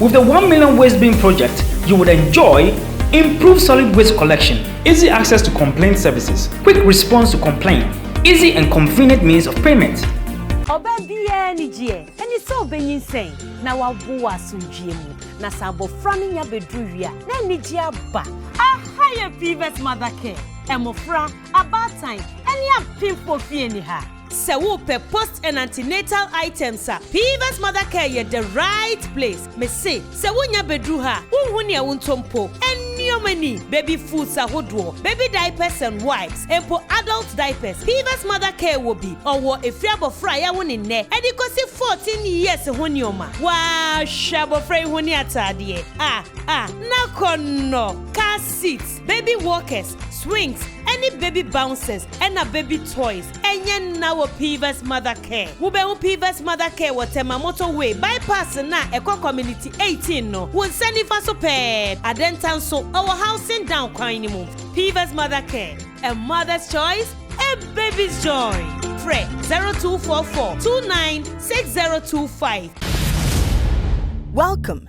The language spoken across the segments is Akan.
With the One Million Waste Bin Project, you would enjoy improved solid waste collection, easy access to complaint services, quick response to complaint, easy and convenient means of payment. Ɔbaa biara anigyeɛ ne sɛ ɔbɛnyinsɛn na wawo wɔ asomdwoeɛ mu, na sɛ abɔfra no nya bɛduru wie a, na anigyeɛ aba. Aha yɛ PVET Mother Care mmofra, abaatan, ne apemfo fie ne ha. Sɛ wopɛ post and antenatal items a, Piva's Mother Care yɛ the right place. Mese, sɛ wonya bɛduru ha a, wonhu nea wontɔ mpo. Nneɛma ni, baby foods ahodoɔ, baby diapers and wipes, mpo adult diapers, Piva's Mother Care wɔ bi. Ɔwɔ ɛfiri abɔfra a yɛawo ne nnɛ de kɔsi 14 years ho nneɛma. Woahwɛ abɔfra yi ho ne ataadeɛ a, a, n'akɔnnɔ, car seat, Baby walkers, swings, ɛne baby bouncers ɛna baby toys. Ɛnyɛ nna wɔ Pivas Mother Care. Wobɛhu Pivas Mother Care wɔ Tema Motorway Bypass no a ɛkɔ Community 18 no, wo nsa nifa so pɛɛ. Adenta nso, ɔwɔ Housing Down kwan no mu. Pivas Mother Care, a mother's choice, a baby's joy. Frɛ 0244 29 6025. Welcome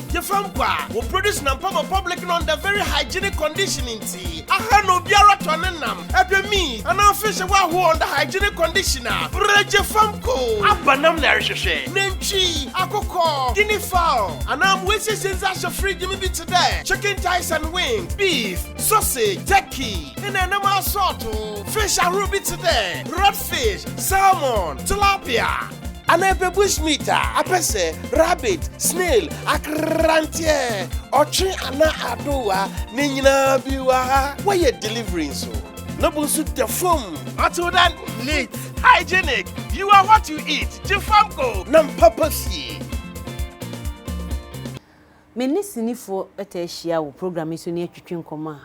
Gye fa mpo a, wo produce nam pama public no under very hygienic condition nti, aha na obiara tɔ ne nam, ɛdwe meat, anaa fish wɔ ahoɔ under hygienic condition a, brɛ gye fa mpo. Aba nam na ɛrehwehwɛ. Nantwi, akokɔ, guinea fowl, anaa mmoa asiesie ndze ahyɛ fridge mu bi tse dɛ chicken thighs and wings, beef, sausage, turkey, nna nam aasɔɔto, fish ahorow bi tse dɛ red fish, salmon, tilapia, Ana ebe bushmeat a apɛsɛ, rabbit, snail, akranteɛ, ɔtwe ana adowa ne nyinaa bi wa ha wɔyɛ delivery nso na bu nso da fom. Until then, neat, hygienic, you are what you eat, gye fam ko. Nam papa fie. Me ne sinifoɔ taa hyia wɔ program yi so ne atwitwi nkɔmmɔ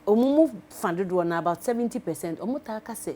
a wɔn mu fa dodoɔ no ara, about seventy percent, wɔtaa ka sɛ,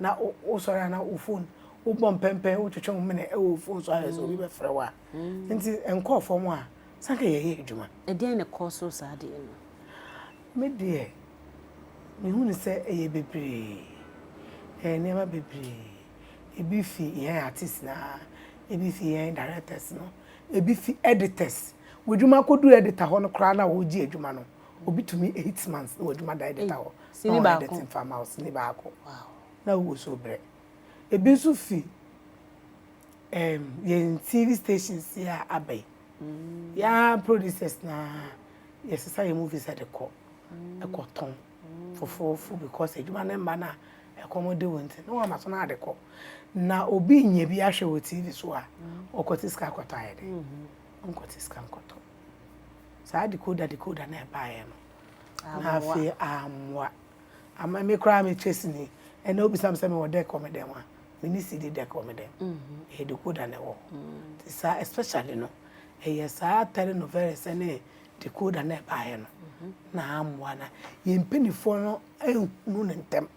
na wosɔre a na wo phone wobɔ mpɛmpɛn wotwetwe wo mene wɔ wo phone so ayɛ sɛ obi bɛfrɛ wo a nti nkɔɔ fam a sanka yɛyɛ adwuma ɛdeɛn na ɛkɔɔ so saa deɛ no me deɛ mehu ne sɛ ɛyɛ bebree ɛyɛ nneɛma bebree ebi fi yɛn artist na ebi fi yɛn directors no ebi fi editors w'adwuma akɔdu editor hɔ no koraa na wɔregye adwuma no Obi tumi eight months wɔ adwuma dan de ta hɔ na ɔyɛ dɛte mfa ma wo sini baako na wowɔ so brɛ ebi nso fi um, yɛn tv stations yi a aba yi mm. yɛn producers na yɛsesa yɛn movies de kɔ mm. ɛkɔ tɔn mm. foforofo because adwuma no mma no a ɛkɔm de wɔn ti na wɔn ama so na ade kɔ na obi nyɛ bi ahwɛ wɔ tv so a ɔkɔte sika akɔtɔ ayɛ de mm-hmm. ɔnkɔte sika nkɔtɔ. Saa decoder decoder no a ɛbaeɛ no, na afei ammoa. Ama me koraa me trace ni, ɛnnɛ wobisa me sɛ mewɔ deck wɔ me dan mu a, menni CD deck wɔ me dan mu. Ɛyɛ decoder na ɛwɔ hɔ. Nti saa especially no, ɛyɛ saa telenovelas ne decoder no a ɛbaeɛ no na ammoa na yɛn mpanimfoɔ no anhunu no ntɛm.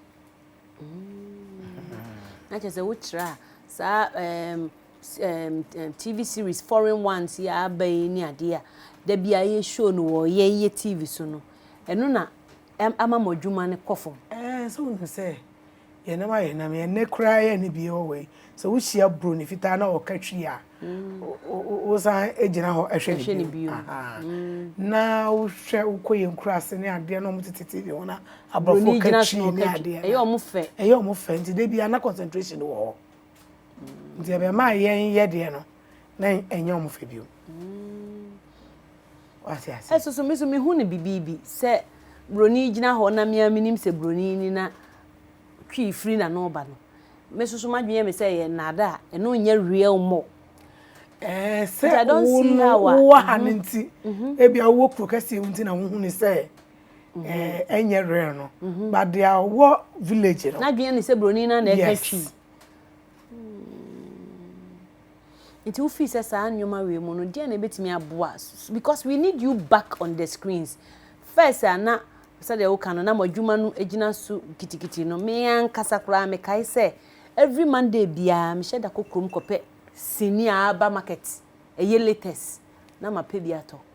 Na kyerɛ sɛ wokyerɛ a, saa ɛɛm TV series foreign ones yi a aba yi ne adeɛ a da bi a yɛ show no wɔ yɛn yɛ TV so no ɛno na ama mo adwuma no kɔ fam. Ɛɛ sɛ wonim sɛ yɛn nam ayɛ nam yɛn nɛ koraa yɛ ne bie wɔ wei sɛ wohyia buro ne fitaa na ɔka twi a wosan gyina hɔ ɛhwɛ ne bio na wohwɛ wokɔ yɛn kura ase ne adeɛ na wɔn tete tv ho na aborɔfo ka twi ne adeɛ ɛyɛ wɔn fɛ ɛyɛ wɔn fɛ nti de bi ana concentration wɔ hɔ. Nti ɛbɛma yɛn yɛdeɛ no na ɛnyɛ wɔn fɛ bio. Wate ase? Ɛso so meso mehu no bibibi sɛ buroni gyina hɔ na mea menim sɛ buroni ni na twi firi na no ba no. Meso so madwene me sɛ yɛ nnaada a ɛno nyɛ real mo. Ɛɛ sɛ wo no wowɔ ha no nti ebia wowɔ kuro kɛseɛ mu nti na wohu ne sɛ ɛnyɛ rare no but deɛ ɔwɔ village no. n'adwene ne sɛ buroni no na ɛka twi. nti wofii sɛ saa nneɛma wei mu no deɛ na ɛbɛtumi aboa because we need you back on the screens first a na sɛdeɛ woka no na mo adwuma no gyina so kitikiti no me ankasa koraa mekae sɛ every monday biara mehyɛ da kɔ kurom kɔpɛ sini a aba market ɛyɛ latest na mapɛ bi atɔ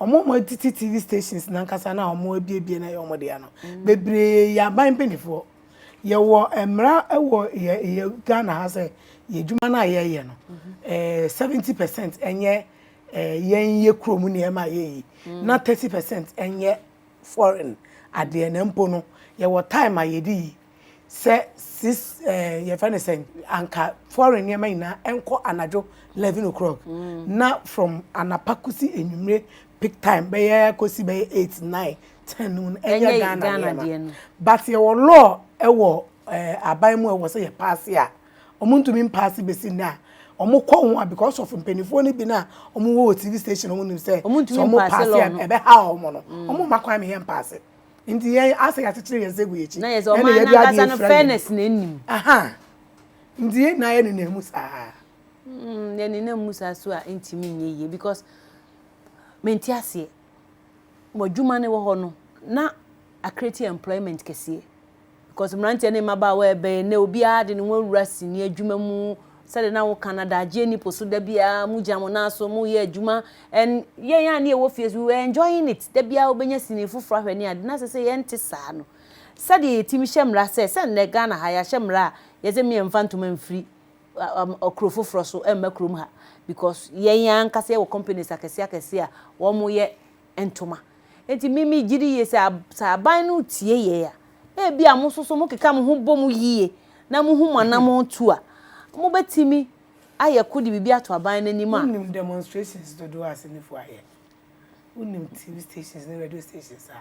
Wɔn a wɔtete TV stations no ankasa no a wɔabuebue no ayɛ wɔn dea no, bebree yɛ aban mpanimfoɔ. Yɛwɔ mmara wɔ yɛ yɛ Ghana ha sɛ yɛn adwuma no a yɛyɛ no, ɛɛ seventy percent nyɛ ɛɛ yɛn yɛ kurom nneɛma a yɛyi, na thirty percent nyɛ foreign adeɛ na mpo no yɛwɔ time a yɛde yi. Sɛ sis ɛɛ yɛfrɛ no sɛn anka foreign nneɛma nyinaa ɛnkɔ anadwo eleven o'clock na from anapa kosi enyimire peak time bɛyɛ kosi bɛyɛ eight nine ten no mu no ɛnyɛ Ghana nneɛma but yɛwɔ law ɛwɔ ɛɛ aban mu a ɛwɔ sɛ yɛ paase a wɔn ntumi mpaase besi nnɛ a wɔn kɔ ho a because of mpanimfoɔ no bi na wɔn wɔ wɔ TV station wɔn nim sɛ sɛ wɔn paase a ɛbɛhaw wɔn no wɔn mma kwan ma yɛn mpaase. nti yɛn asɛ yɛakyekyere yɛn nsa agu yɛn akyi na yɛ sɛ ɔman no ankasa no fairness na anim nti yɛn nyinaa yɛ nenam mu saa mm, yɛ nenam mu saa so a ntumi nyɛ yie because menti aseɛ mo adwuma no wɔ hɔ no na akreti employment kɛseɛ Because mmeranteɛ ne mmabaawa ɛbɛn nnɛ obiara de ne ho awura sini adwuma mu sɛdeɛ na wo kan adagyeɛ ni po so da biara mo gyina mo nan so mo yɛ adwuma and yɛn a ne yɛwɔ fie so we were enjoying it da biara wobɛnya sini foforɔ ahwɛ ne ade na sɛ sɛ yɛnte saa no sɛdeɛ yɛtumi hyɛ mmara sɛ sɛ nnɛ Ghana ha yɛahyɛ mmara a yɛsɛ me yɛmfa ntoma mfiri kuro foforɔ so mma kurom ha because yɛn ankasa yɛwɔ companies akɛseɛ akɛseɛ a wɔn yɛ ntoma. Enti me megye di yie sɛ sɛ aban no retie yɛn a, na ebi a mo nso so mokeka mo ho bɔ mu yie na mohu mo anammɔn tu a, mobɛtumi ayɛ ko de biribi ato aban no anim a. Wonim demonstrations dodoɔ a senifoɔ ayɛ? Wonim TV stations ne radio stations a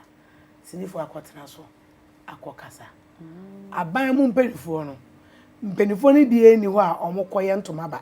senifoɔ akɔtena so akɔkasa? Aban mu mpanimfoɔ no, mpanimfoɔ no biara nni hɔ a wɔkɔyɛ ntoma ba.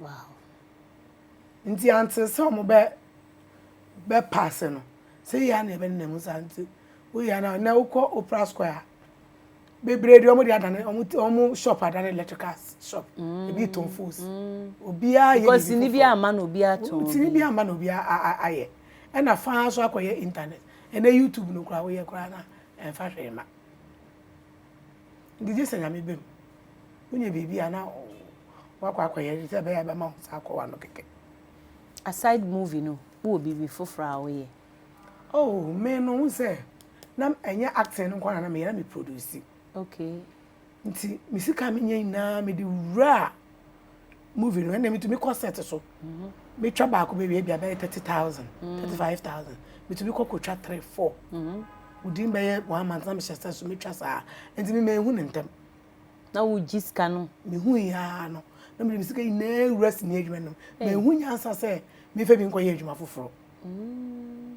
Wow nti antsee sɛ ɔmo bɛ bɛ paase no sɛ yia na yɛbɛ nenamu saa nti wo yɛ na nɛ wo kɔ opera square a bebree deɛ ɔmo deɛ adane ɔmo ti ɔmo shop adane electricals shop ebi tɔn fools obiara yɛ because sini bi ama na obiara tɔn sini bi ama na obiara ayɛ ɛna faa so akɔyɛ internet ɛnɛ youtube no koraa woyɛ koraa na ɛnfa hwee ma. Nti gye sɛ Nyame bɛ mu. Wonya biribi a na wakɔ akɔyɛ sɛ ɛbɛyɛ a bɛma wo nsa akɔ w'ano kɛkɛ. Aside movie no, wowɔ biribi foforɔ a woyɛ? Oh, me no wohu sɛ na ɛnyɛ acting no nko ara na meyɛ, na me produce. Okay. Nti me sika a menya nyinaa mede wuraa. movie no ɛnna metumi kɔ set so mhm. metwa baako bɛwie bi abɛyɛ thirty thousand mm. thirty five thousand metumi kɔ kɔtwa three four mhm. within bɛyɛ one month na mehyɛ sɛ so metwa saa nti me mehu ne ntɛm na wogye sika no mehu yaa no na mede me sika nyinaa wura sini adwuma no mehu nyansa sɛ mefɛ bi nkɔyɛ adwuma foforɔ mm.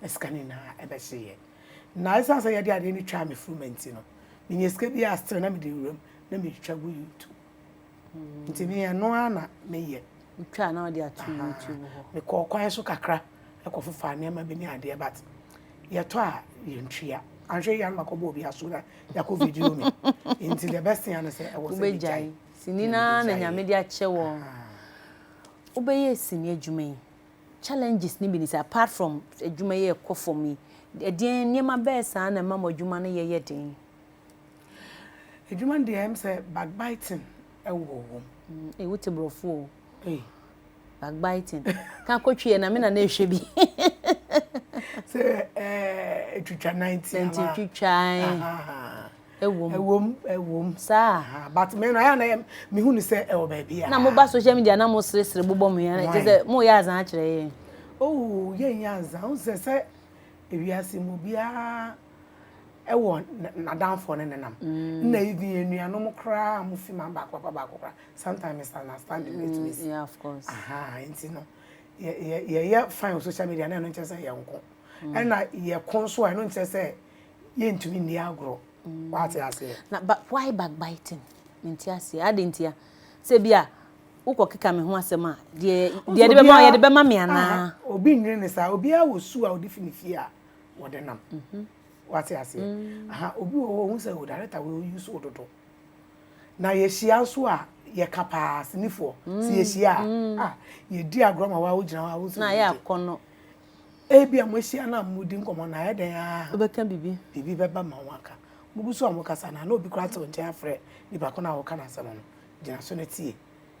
na sika no nyinaa ɛbɛhyeeɛ. Na ɛsiane sɛ yɛde adeɛ no twaa me funuma nti no, menyaa sika biara still na mede wuram na metwa gu YouTube. Nti me ɛno ara na meyɛ. Wotwa na wode ato YouTube hɔ? Mekɔɔ kwan so kakra kɔ fofaa nneɛma bi ne adeɛ but yɛtɔ a yɛntua. Anhwɛ yie a na makɔbɔ obi aso na yɛakɔ video me. Nti the best thing ara ne sɛ ɛwɔ sɛ megyae. Sini no ara na Nyame de akyɛ wo. Wobɛyɛɛ sini adwuma yi Challenges no bi ne sɛ, apart from adwuma yi a ɛkɔ fam yi, ɛdeɛn nneɛma bɛɛ saa na ɛma mo adwuma no yɛ yɛ den? Adwuma no deɛ ɛyɛ me sɛ backbiting wɔ hɔ. Ei wo te borɔfo o. Ei. Backbiting. Ka kɔtwi ɛ na me na na ɛhwɛ bi. Sɛ ɛɛ ɛtwitwa nan ti anaa. Nanti twitwa. Ɛwom. Ɛwom, ɛwom, saa aha, but me no ɛyɛ a na me hu no sɛ ɛwɔ baabi a. Na mo ba social media na mo sere sere bobɔ mo yɛn, kyerɛ sɛ mo yɛ azan akyerɛ yɛn. Oh, yɛn nyɛ azan, wohu sɛ sɛ ewiase mu obiara ɛwɔ n'adanfoɔ ne nenam, na even anuanom koraa a mo fi man baako papa baako koraa, sometimes misunderstanding no ɛtumi si, yeah of course, aha, nti no yɛ yɛ yɛyɛ fine wɔ social media na ɛno nkyerɛ sɛ yɛn ko, ɛna yɛ ko nso a ɛno nkyerɛ sɛ. yɛntumi nni agorɔ mm. wate aseɛ na but why backbiting mente aseɛ ade ntia sɛ bi a wokɔ keka me ho asɛm a deɛ deɛ de bɛma yɛde bɛma me anaa obi nwene ne saa obiara wɔ su a ɔde fi ne fie a wɔde nam mhm. wate aseɛ mm. aha obi wɔ hɔ ɔhu sɛ o oh, director wɔ ɔyi so dodo na yɛhyia nso a yɛka paa sinifoɔ sɛ mm. yɛhyia a yɛdi agorɔ ma wa wogyina hɔ a wosɛ na yɛ akɔnnɔ Ebia moahyia na moredi nkɔmmɔ na ayɛ dɛn ara a, wobɛka biribi, biribi bɛba ma woaka. Mugu so a mokasa no a, na obi koraa te wo nkyɛn afrɛ nipa ko no a woreka n'asɛm no. Gyina so na tie.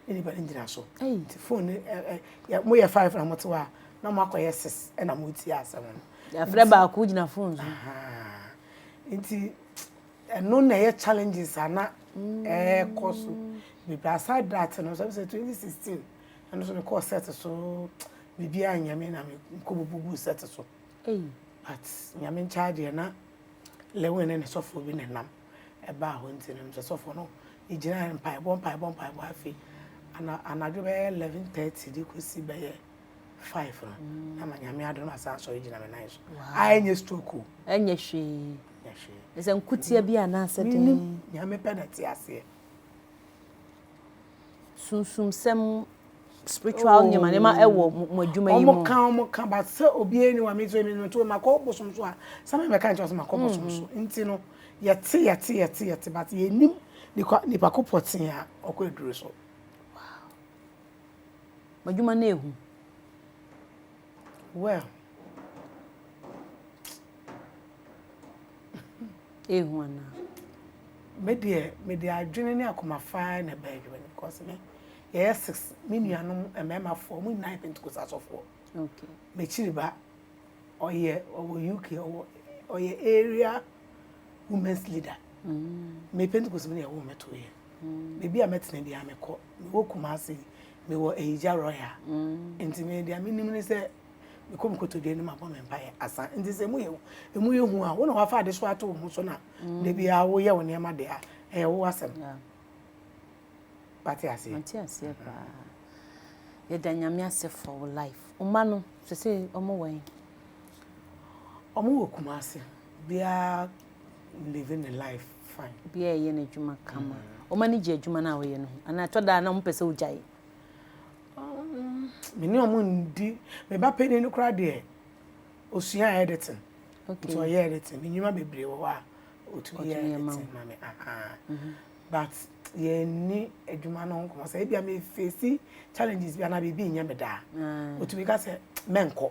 Ne nipa no ngyina so. Nti fon no ɛ ɛ yɛ moyɛ five na mote hɔ a, na moakɔyɛ six na moretie asɛm no. Yɛafrɛ baako gyina fon so. Ahaa. Nti ɛno na ɛyɛ challenges a na ɛrekɔ so bebree. Aside that no, sɛ wohwɛ twenty sixteen. Ɛno so mekɔɔ set so biribiaa nyɛ me na mekɔ bububuu set so but Nyame nkyɛe deɛ na Lewin ne ne sɔfoɔ bi na ɛnam ɛbaa hɔ nti no sɛ sɔfoɔ no yɛgyinaeɛ mpaebɔ mpaebɔ mpaebɔ afei anadwo bɛyɛ 11:30 de kɔsi bɛyɛ five no mm. na ma nyame adom asan sɔre gyina me nan so a ɛnyɛ stroke o ɛnyɛ hwee ɛnyɛ hwee ɛsɛ nkutia bi anaasɛ den nyame pɛ na te aseɛ sunsumsɛm mu spiritual nneɛma nneɛma ɛwɔ mo adwuma yi mu. wɔn ka wɔn ka ba sɛ obiara ni wa mi nso emi no nti ma kɔ bosom so a sami bɛ ka nkyɛn sɛ ma kɔ bosom so mm. nti no yɛte yɛte yɛte yɛte but yɛnim nipa nipa ko pɔtee a ɔkɔ aduro so. adwuma no ehu. Well Ehu anaa? Me deɛ me de adwene ne akoma faa na ɛbɛɛ adwuma no because me yɛyɛ six me nuanom mmarima foɔ mo nyinaa yɛ pentekosa asɔfoɔ okay m'akyiri ba ɔyɛ ɔwɔ uk ɔwɔ ɔyɛ area women's leader mm. me pentekosa mu na ɛwɔ me to yɛ baabi a mɛtena biara mekɔ mewɔ Kumasi mewɔ Ahigya Royal nti me deɛ menim ne sɛ mekɔ me kotodwe anim abɔ me mpaeɛ asa nti sɛ mu yɛ ɛmu yɛ hu a wo na wafa ade so ato wo ho so na da biara woyɛ wo nneɛma de a ɛyɛ wo asɛm wate aseɛ wate aseɛ paa yɛda nyame ase for wo life ɔma no sɛ sɛ ɔmo wɔ yi ɔmo wɔ Kumasi biara living the life Obiara reyɛ n'adwuma kama. Wɔn ani gye adwuma no a wɔyɛ no ho anaa ɛtɔ da a na wɔpɛ sɛ wɔgyae? Me ne wɔn ndi. Me ba panin no koraa deɛ, ɔsua editing. Nti ɔyɛ editing. Me nnwuma bebree wɔ hɔ a, ɔtumi yɛ editing ma me. But yɛnni adwuma no ho nkɔmmɔ. Sɛ ebia mefeesi challenges bi anaa biribi nyɛ me dɛ a, ɔtumi ka sɛ, Mɛnkɔ.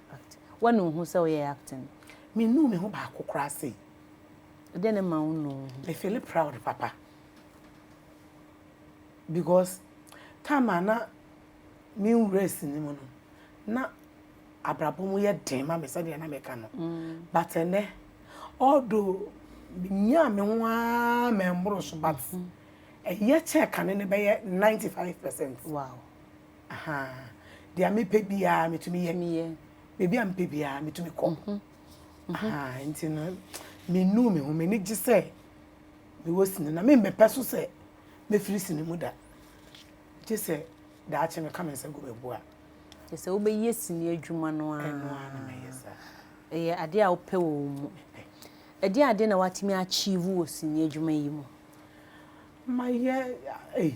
Act. Woanu wo ho sɛ woyɛ acting? Mennuu me ho baako koraa sei. Ɛdeɛn ne ma wonnuu wo ho? Me feeli proud papa because time a na me nwura sini mu no, na abrabɔ mu yɛ den ma me sɛdeɛ na meka no. But ɛnnɛ, although menyaa me ho ara mɛmmoro so but ɛyɛ kyɛɛ kane no bɛyɛ 95 percent. Wow. Ahaa. Deɛ mepɛ biara metumi yɛ. Tumi yɛ. Baabi a mepɛ biara metumi kɔ. Ahaa nti no mennuu me ho. M'ani gye sɛ mewɔ sini na memmɛpɛ so sɛ mɛfiri sini mu da gye sɛ daakye meka me nsa gu me bo a. Kyerɛ sɛ wobɛyɛ sini adwuma no ara. Ɛno ara na mɛyɛ saa. Ɛyɛ adeɛ a wopɛ wɔ wo mu. Mepɛ. Ɛdeɛn adeɛn na woatumi achieve wɔ sini adwuma yi mu? Mayɛ ei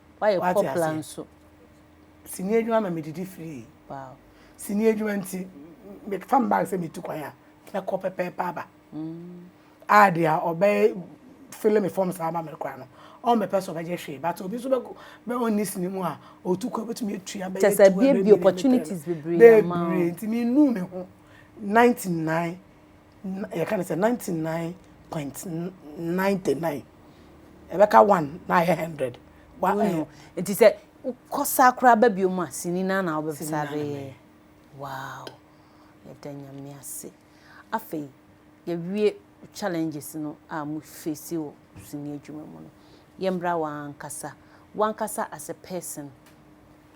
Woayɛ kɔpla nso. Sini adwuma ma medidi free. Wow. Sini adwuma nti mefa me bag sɛ metu kwan a mɛkɔ pɛpɛɛpɛ aba. Mm. A deɛ a ɔbɛyɛ fele me fam saa ma me kora no ɔmmɛpɛ sɛ ɔbɛgye hwee but obi nso bɛ ɔnni sini mu a ɔtu kwan bɛtumi atua bɛyɛ kyɛ sɛ bie bi opportunities bebree ama bebree nti menu me ho 99 yɛka no sɛ ninety nine point ninety nine ɛbɛka one na ayɛ hundred. wonu nti sɛ wokɔ saa koraa ba bio mu a sini na na wobɛsa abɛyɛ wow yɛda nyame ase afei yɛwie challenges no a mo face wɔ sini adwuma mu no yɛmmra wankasa wankasa as a person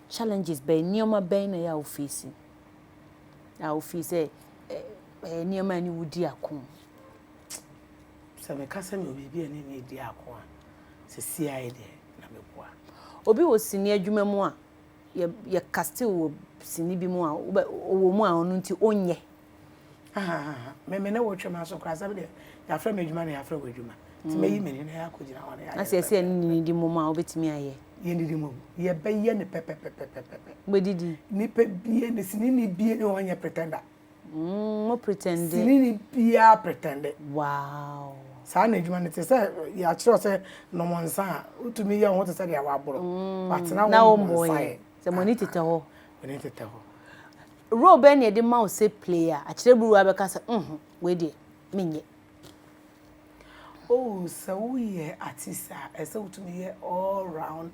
challenges bɛn nneɛma bɛn na yɛ a wo face a wofii sɛ ɛyɛ nneɛma a ɛne wo di ako. Sɛ meka sɛ mewɔ biribi a ɛne me di ako a, seesei deɛ na meboa. Obi wɔ sini adwuma mu a, yɛka still wɔ sini bi mu a ɔwɔ mu a ɔno nti ɔnyɛ. Ahahaha me me ne wo twe m'aso koraa sɛ me deɛ yɛafrɛ me adwuma na yɛafrɛ wo adwuma nti mɛyi me ni na yɛakɔgyina hɔ na yɛayɛ Asɛ sɛ ɛne nididi mmom a wobɛtumi ayɛ? Yɛnnidi mmom, yɛbɛyɛ no pɛpɛpɛpɛpɛpɛ. Mobɛdidi? Nipa bie ne sinini bie ne hɔ nyɛ pretender. Mm, mo pretende. Sinini biara pretende. Wow. Saa na adwuma no te sɛ yɛakyerɛ sɛ nom nsa a wotumi yɛ wo ho te sɛ deɛ waboro. Watena hɔ nom nsa yɛ. Sɛ mo ani tetɛ hɔ. M'ani tetɛ hɔ. Role bɛn na yɛde ma wo sɛ play a akyerɛburuwa bɛka sɛ nhu, wei deɛ, menyɛ? Oh, sɛ woyɛ artist a, ɛsɛ sɛ wotumi yɛ all round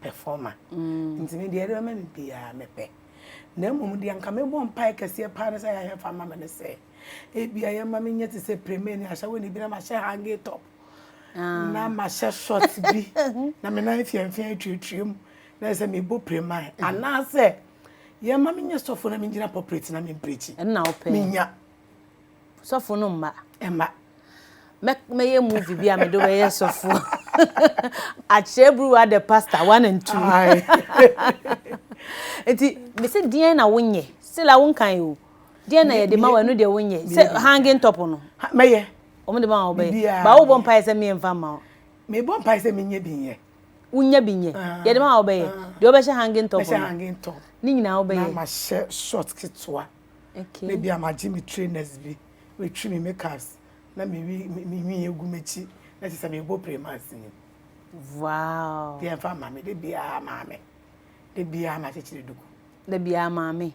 performer. Nti me deɛ, deɛ bɛma me biara mepɛ. Na mmom deɛ anka mebɔ mpaeɛ kɛseɛ paa ne sɛ Yahya fa ma me ne sɛ, ebia yɛmma menyɛ te sɛ Preme ne Ashawani bi na mahyɛ hanging top na mahyɛ short bi na me nan fiamfia atuatua mu. Na sɛ mebɔ prim a, anaasɛ yɛma me nyɛ sɔfo na megyina pɔpret na memprikyi. Ɛno na wopɛ? Menya. Sɔfo no mma. Ɛma. Mɛ mɛyɛ movie bi a mede wobɛyɛ sɔfo. Akyerɛ buruwa the pastor one and two. Nti mese deɛn na wonyɛ? Sila wonkan o. Deɛn na yɛde ma wo ɛno deɛ wonyɛ? Sɛ hanging top no. Mɛyɛ. Wɔn de ma wo bɛyɛ. Biribiara. Ba wobɔ mpaeɛ sɛ menyɛ mfa mma wo. Mebɔ mpaeɛ sɛ menyɛ bi nyɛ. wonya bi nyɛ yɛde ma a wobɛyɛ deɛ wobɛhyɛ hanging top mɛhyɛ hanging top ne nyinaa wobɛyɛ na mahyɛ short ketewa okay na bi a magye me trainers bi metwi me makeups na mewi mewi egu m'akyi na kyerɛ sɛ mebɔ primas ni wow deɛ mfa maame de biara maame de biara na kyekyere duku da biara maame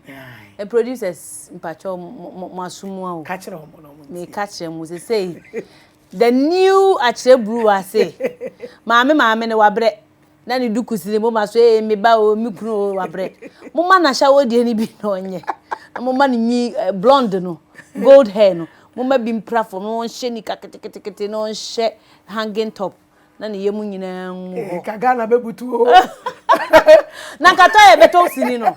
ɛ producers mpakyɛ mo asomu awo ka kyerɛ wɔn na wɔn ti meka kyerɛ mo sɛ sɛ The New Akyerɛburuwa se, Maame, maame no, wabrɛ, na ne duku si ne moma so, ee, me ba oo, me kunu oo, wabrɛ. Momma no ahyɛwodeɛ no bi na ɔnyɛ, na momma no nwi blonde no, gold hair no, momma bi mpra fam, na ɔnhyɛ nika keteketekete, na ɔnhyɛ hanging top, na ne yam nyinaa ngu hɔ. Ee, nka Ghana bɛbutu oo. Na nka tɔyɛ bɛtɔ wo sini no,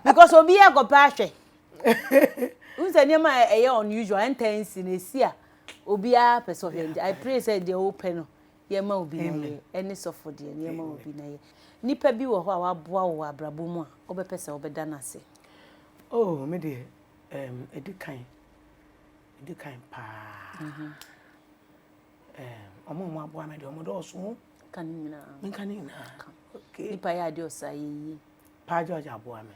because obiara rekɔpɛ ahwɛ. Wohu sɛ nneɛma a ɛyɛ unusual, ɛntaa nsi no, ɛsi a, Obiara pɛ sɛ ɔhwɛ no nti I pray sɛ deɛ wopɛ no yɛma obi na yɛ ɛne sɔfo deɛ no yɛma obi na yɛ. Nipa bi wɔ hɔ a waboa wo wɔ abrabɔ mu a wobɛpɛ sɛ wobɛda no ase? Oh me deɛ ɛɛm ɛdi kan ɛdi kan paa ɛɛm ɔmo a ɔmo aboa me deɛ ɔmo dɔɔso o. Ka ne nyinaa. Menka ne nyinaa? Ka. Okay. Nipa yɛ adeɛ ɔsɛ ayɛ yie. Paa George aboa me.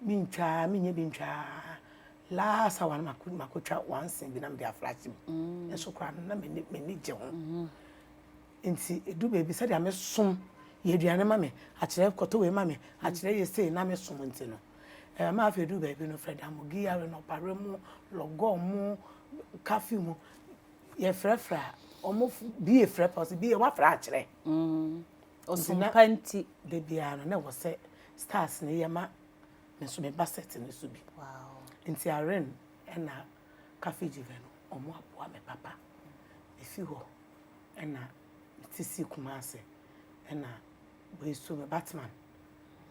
Me ntwaa me nyɛ bi ntwaa last hour no mako mako twa one sin bi na mede afra sim mm. nso koraa no na m'ani m'ani gye ho mm-hmm. nti edu baabi sɛdeɛ me som yɛ aduane ma me akyerɛ kɔtɔ wei ma me mm. akyerɛ yɛ sei na me som nti no ɛɛ maa afei edu baabi no fɛ damo giyare no ɔpare mu lɔgɔ mu kafe mu yɛfrɛfrɛ a wɔn bi efrɛ pɔsi bi yɛ wafrɛ akyerɛ. Mm. Ɔsom na pa nti. Da biara no, na ɛwɔ sɛ stars no yɛ ma me nso meba set no so bi. Nti Irene ɛna Kaffie Jive no, wɔn aboa me papa. Mefi hɔ ɛna mete si Kumasi ɛna wei so me Batman.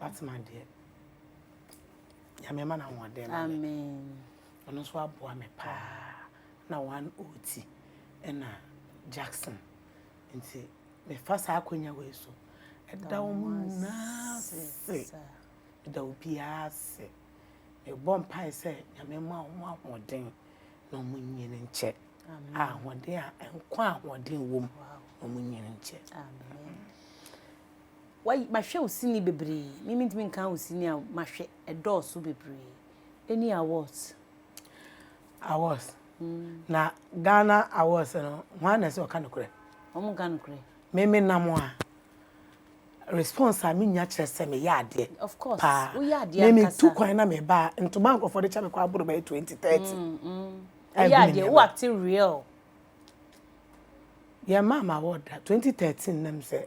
Batman deɛ, Nyame ma no ahoɔden ma me. Ɔno nso aboa me paa. Na one oti ɛna Jackson. Nti. Mefa saa akwanya wei so da wɔn nyinaa ase, meda obiara ase. Mebɔ mpae sɛ Nyame mma wɔn ahoɔden na wɔn nyini nkyɛ. Ahoɔden a nkwa ahoɔden wom na wɔn nyini nkyɛ. Mahwɛ wo sini bebree, mimi ntumi nka wo sini a mahwɛ ɛdɔɔso bebree. Any awards? Awards na Ghana awards no hwan na ɛsɛ ɔka nokorɛ? Wɔn nka nokorɛ. Me me nam a response a me nya kyerɛ sɛ me yɛ adeɛ. Of course. Paa. Wo yɛ adeɛ ankasa. Me me tu kwan na me ba ntoma nkorɔfoɔ de kyɛ me kɔ aboro bɛyɛ twenty thirty. Mm, mm. Wo yɛ adeɛ wo act real. Yɛ maa ma award da twenty thirteen nam sɛ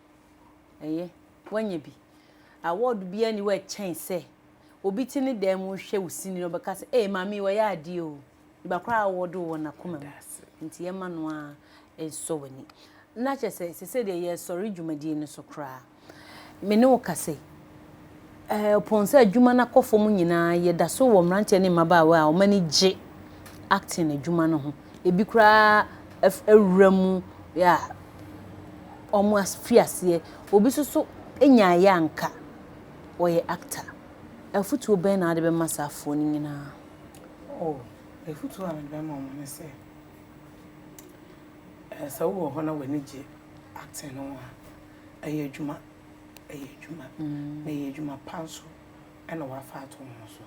Ɛyɛ, woanya bi. Awɔɔdo biara nni hɔ a ɛkyɛn sɛ obi te ne dan mu hwɛ wo sini na ɔbɛka sɛ, Ee, maame yi, wayɛ adeɛ o. Nipa koro a awɔɔdo wɔ n'akoma mu. Nti yɛmma no ara nsɔ w'ani. Na kyerɛ sɛ, seesei deɛ yɛresɔre dwumadie no so koraa. Me ne wo kasa yi, Ɛpono sɛ adwuma no akɔ fam nyinaa, yɛda so wɔ mmeranteɛ ne mmabaawa a wɔn ani gye acting adwuma no ho. Ebi koraa awura mu a wɔafi aseɛ. Obi nso so nyaeɛ a anka ɔyɛ actor. Afotuo bɛn na wode bɛma saa afoɔ no nyinaa? Oh, afotuo a mede bɛma wɔn ne sɛ, sɛ wowɔ hɔ na w'ani gye acting no ho a, ɛyɛ adwuma. yɛ adwuma, na ɛyɛ adwuma pa nso na woafa ato wo ho so,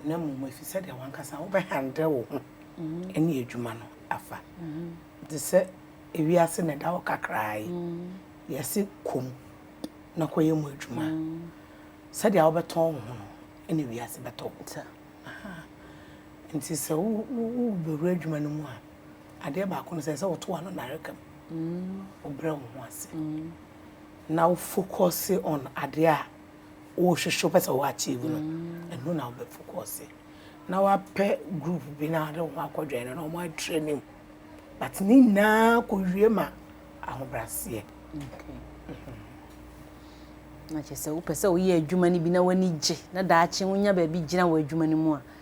na mmom ɛfiri sɛ deɛ w'ankasa wobɛhandle wo ho ne adwuma no afa. Te sɛ ewiase na ɛda hɔ kakraa yi, yɛse kɔ mu na kɔyɛ mu adwuma. Sɛdeɛ wobɛtɔn wo ho no na ewiase bɛtɔ wo. Nti sɛ wobɛwura adwuma no mu a, adeɛ baako no sɛ sɛ woto ano nareka mu wobrɛ wo ho ase na wo focus on adeɛ a wohwehwɛ pɛ sɛ wo achieve no ɛno na wobɛ focus na wapɛ group bi na ade ho akɔdwɛn no na wɔn atrɛ ne mu but ne nyinaa kɔwie ma ahobraseɛ na kyerɛ sɛ wopɛ sɛ woyɛ adwuma no bi na w'ani gye na daakye wonya baabi gyina wɔ adwuma no mu a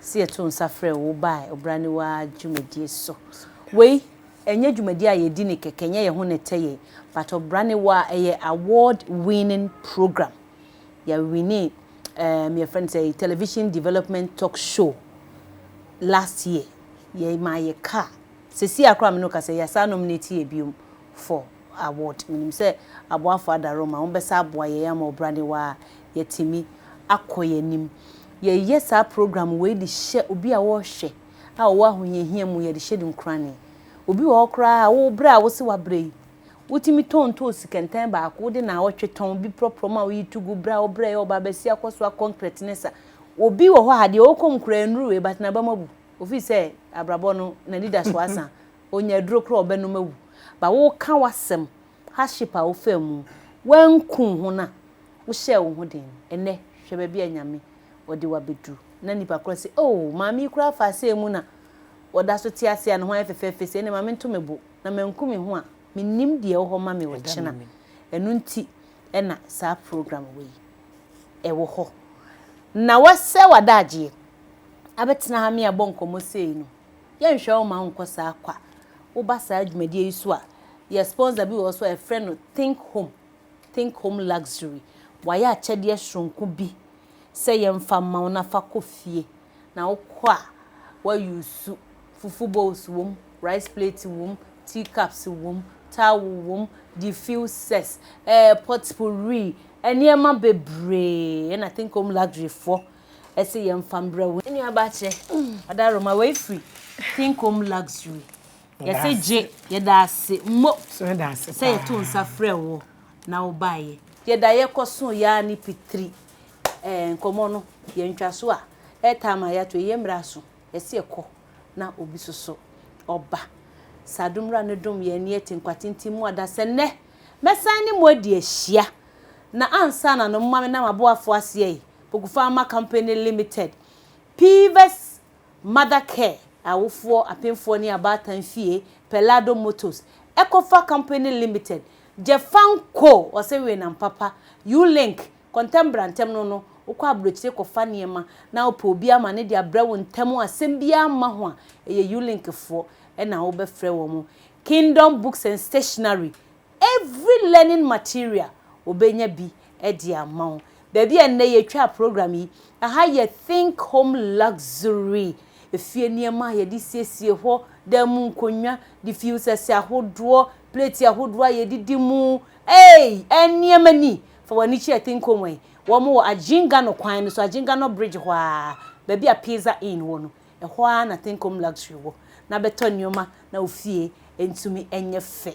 sɛ yɛto nsa frɛ wo bae ɔbraniwa dwumadie so. Wei ɛnyɛ dwumadie a yɛdi ne kɛkɛ, ɛnyɛ yɛn ho na ɛtɛ yɛn, but ɔbraniwa a ɛyɛ award winning program. Yɛawini um, yɛfrɛ no sɛ television development talk show last year. Yɛmaa yɛ car. Sɛsi a koraa me ne wo kasa yi, yɛasan nominate yɛ biom for award. Menim sɛ aboafo ada Roma, wɔbɛsa aboa yɛn ama ɔbra ne wa a yɛatumi akɔ yɛn anim. Yɛyɛ saa program wei de hyɛ obi a wɔrehwɛ a ɔwɔ ahohiahia mu, yɛde hyɛ no nkurane. Obi wɔ hɔ koraa a, wo brɛ a wose wabrɛ yi, wotumi tɔn ntoosi kɛntɛn baako, wode naawɔtwe tɔn bi prɔprɔ ma woyi tugu, brɛ a wobrɛ yɛ ɔbaa basia kɔ soa kɔnkrɛt ne sa. Obi wɔ hɔ a, deɛ ɔwɔ kɔn mu koraa nnuru wei, but n'abam abu, ofiri sɛ abrabɔ no, n'anidasoɔ asa, Onya aduro koraa ɔbɛnom awu but woka w'asɛm hardship a wofaa mu wanku wo ho no a wohyɛɛ wo ho den no ɛnɛ hwɛ baabi a Nyame ɔde wo abɛduru na nipa koraa se oh maame yi koraa faa sɛɛ mu na ɔda so te ase a ne ho ayɛ fɛfɛɛfɛ sei ɛnneɛ ma me nto me bo na manku me ho a mennim deɛ ɛwɔ hɔ ma me ɔkyena ɛno nti ɛna saa program wei ɛwɔ hɔ na wasɛe w'adaagyeɛ abɛtena ha me abɔ nkɔmmɔ sei no. Yɛnhwɛ wo ma wo nkɔ saa kwa. Woba saa dwumadie yi so a, yɛ sponsor bi wɔ hɔ so a yɛfrɛ no Think Home, Think Home Luxury. Wayɛ akyɛdeɛ soronko bi sɛ yɛmfa mma wo na fa kɔ fie. Na wokɔ a, wa use fufu bowls wom, rice plate wom, tea cups wom, towel wom, diffusers, eh, potpourri, nneɛma bebree na Think Home Luxury foɔ ɛse yɛn fa mbrɛ wo nua baa kyɛ ɔda roma wei firi King Kom Luxury yɛse gye yɛda ase mo sɛ yɛto nsa frɛ wo na wo baa yɛ. Yɛda yɛ kɔ so yaa ne pitiri ɛɛ nkɔmɔ no yɛ ntwa so a airtime a yɛato yi yɛ mmerɛ aso yɛse yɛ kɔ na obi soso ɔba saa dom wura no dom yɛ ani ɛte nkwa tenten mu ada sɛ nnɛ mɛsan ne mo adi ahyia na ansa na no moma me na maboafo aseɛ yi. Poku Pharma Company Limited, Pivas Mother Care, Awofoɔ, Apemfoɔ ne Abaatan Fie, Pellado Motors, Ecofa Company Limited, Jefanco, Ɔse Weenam Papa, U-Link, Kɔntɛm Bra Ntɛm No no, wokɔ aburokyire kɔfa nneɛma na wopɛ obi ama ne de abrɛ wo ntɛm a asɛm biara mma ho a, ɛyɛ U-Link foɔ na wobɛfrɛ wɔn. Kingdom Books and Stationery, Every learning material wɔbɛnya bi de ama wo. Baabi a nnɛ yɛtwaa program yi, ɛha yɛ Think Home Luxury, efie nneɛma a yɛde siesie hɔ, dan mu nkonnwa, diffusers ahodoɔ, plate ahodoɔ a yɛdidi mu, ei, nneɛma ni! Fa w'ani kyerɛ Think Home yi, wɔn wɔ Agyenka no kwan no so, Agyenka no bridge hɔ ara, baabi a Pizza Inn wɔ no, ɛhɔ ara na Think Home Luxury wɔ. Na bɛtɔ nneɛma na wo fie ntumi nyɛ fɛ.